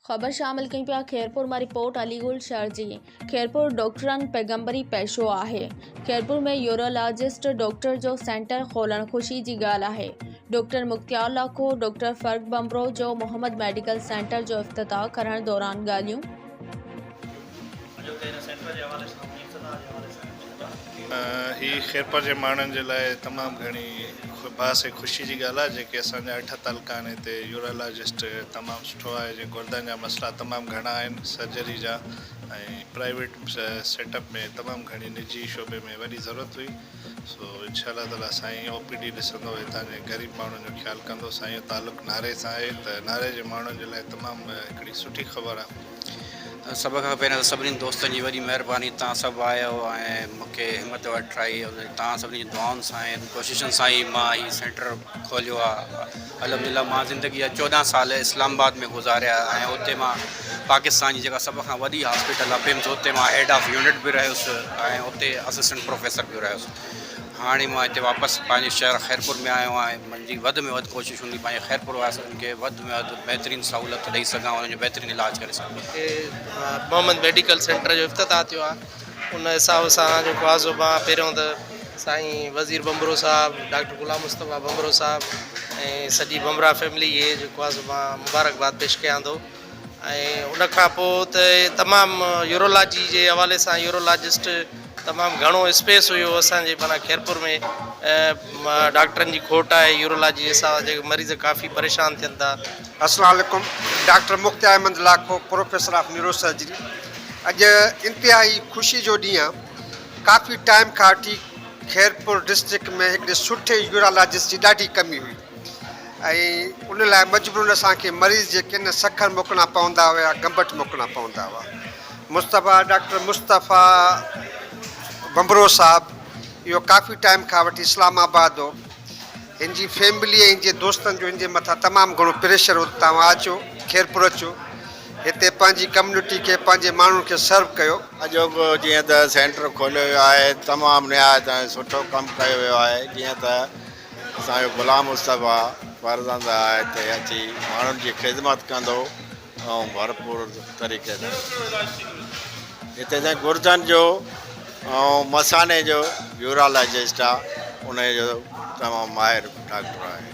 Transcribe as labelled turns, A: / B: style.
A: خبر شامل ڪيون پيا خيرپور مان رپورٽ علي گل شرجي خيرپور ڊاڪٽرن پيغمبري پيشو آهي خيرپور ۾ يورالاجسٽ ڊاڪٽر جو سينٽر کولڻ خوشي جي ڳالهه آهي ڊاڪٽر مختيار لاکو ڊاڪٽر فرق ٻنڀرو جو محمد ميڊيڪل سينٽر جو افتتاح ڪرڻ دوران ڳالهيون
B: هي خيرپور جي ماڻهن جي لاء تمام گهڻي باعث خوشي جي ڳالهه آهي جيڪي اسان جا اٺ تعلقا آهن هتي يورالاجسٽ تمام سٺو آهي جي گردن جا مسئلا تمام گهڻا آهن سرجري جا ۽ پرائيويٽ سيٽ اپ ۾ تمام گهڻي نجي شعبي ۾ وڏي ضرورت هئي سو انشاء الله تعالي سائين او پي ڊي ڏسندو هتان جي غريب ماڻهن جو خيال ڪندو سائين جو تعلق ناري سان آهي ته ناري جي ماڻهن جي لاء تمام هڪڙي سٺي خبر آهي سڀ کان
C: پهريان ته سڀني دوستن جي وڏي مهرباني تان سڀ آيو ۽ مون کي همت وٺرائي تان سڀني جي دعائن سان ۽ ڪوششن سان ئي مان هي سينٽر کوليو آ الحمدلله مان زندگي جا چوڏهن سال اسلام آباد ۾ گذاريا ۽ اتي مان پاڪستان جي جيڪا سڀ کان وڏي هاسپيٽل آ بمز اتي مان هيڊ آف يونٽ به رهيس ۽ اتي اسسٽنٽ پروفيسر به رهيس هاڻي مان هتي واپس پنهنجي شهر خيرپور ۾ آيو آهيان منهنجي وڌ ۾ وڌ ڪوشش هوندي پنهنجي خيرپور واسين کي وڌ ۾ وڌ بهترين سهولت ڏئي سگهان انهن جو بهترين علاج ڪري سگهان. هتي محمد ميڊيڪل
D: سينٽر جو افتتاح ٿيو آهي ان حساب سان جيڪو آهي سو مان پهريون ته سائين وزير ڀنڀرو صاحب ڊاڪٽر غلام مصطفيٰ ڀنڀرو صاحب ۽ سڄي ڀنڀرا فيملي کي جيڪو آهي سو مان مبارڪباد پيش ڪيان ٿو. ان کان پوء ته تمام يورولاجي جي حوالي سان يورولاجسٽ تمام گهڻو اسپيس هيو اسان جي معنيٰ خيرپور ۾ ڊاڪٽرن جي کوٽ آهي يورولاجي جي حساب سان مريض ڪافي پريشان ٿين ٿا. السلام عليڪم
E: doctor Mukhtiar Ahmed Lakho professor of neurosurgery اڄ انتهائي خوشي جو ڏينهن آهي ڪافي ٽائيم کان وٺي خيرپور ڊسٽرڪٽ ۾ هڪڙي سٺي يورالاجسٽ جي ڏاڍي ڪمي هئي ۽ ان لاء مجبورن اسان کي مريض جي ڪن سکر موڪلڻا پوندا هئا يا گمبٽ موڪلڻا پوندا هئا. مصطفيٰ، ڊاڪٽر مصطفيٰ ڀنڀرو صاحب، اهو ڪافي ٽائيم کان وٺي اسلام آباد هو. هن جي فيملي ۽ هن جي دوستن جو هن جي مٿان تمام گهڻو پريشر هو ته توهان اچو، خيرپور اچو، هتي پنهنجي ڪميونٽي کي، پنهنجي ماڻهن کي سرو ڪيو. اڄوڪو جيئن ته
F: سينٽر کوليو ويو آهي، تمام نهايت ۽ سٺو ڪم ڪيو ويو آهي، جيئن ته اسان جو غلام مصطفيٰ فرزند آء هتي اچي ماڻهن جي خدمت ڪندو هئم ڀرپور طريقي سان. هتي اسان گرجن جو ۽ مثاني جو يورالجسٽ آ انهي جو تمام ماهر ڊاڪٽر آهي.